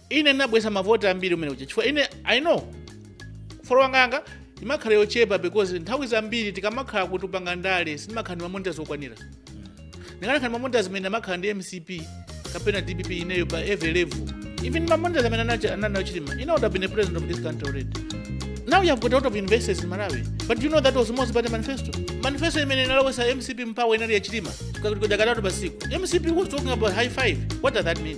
ine ndinabweza mavoti ambiri umene uja chifukwa ine i know following yanga imakhala yochepa because nthawi zambiri tikamakhala kuti tikupanga ndale sindimakhala ndi ma monitor zokwanira ndikanakhala ndi ma monitor zimene amakhala ndi mcp kapena dpp ineyo by every level even ma monitor zimene anachi- ananayo chilima ine would have been a president of this country already now you have got a lot of investors in malawi but you know that was most about the manifesto manifesto imene inalowesa mcp mu power inali ya chilima kudakalatu pasiku mcp was talking about high five what does that mean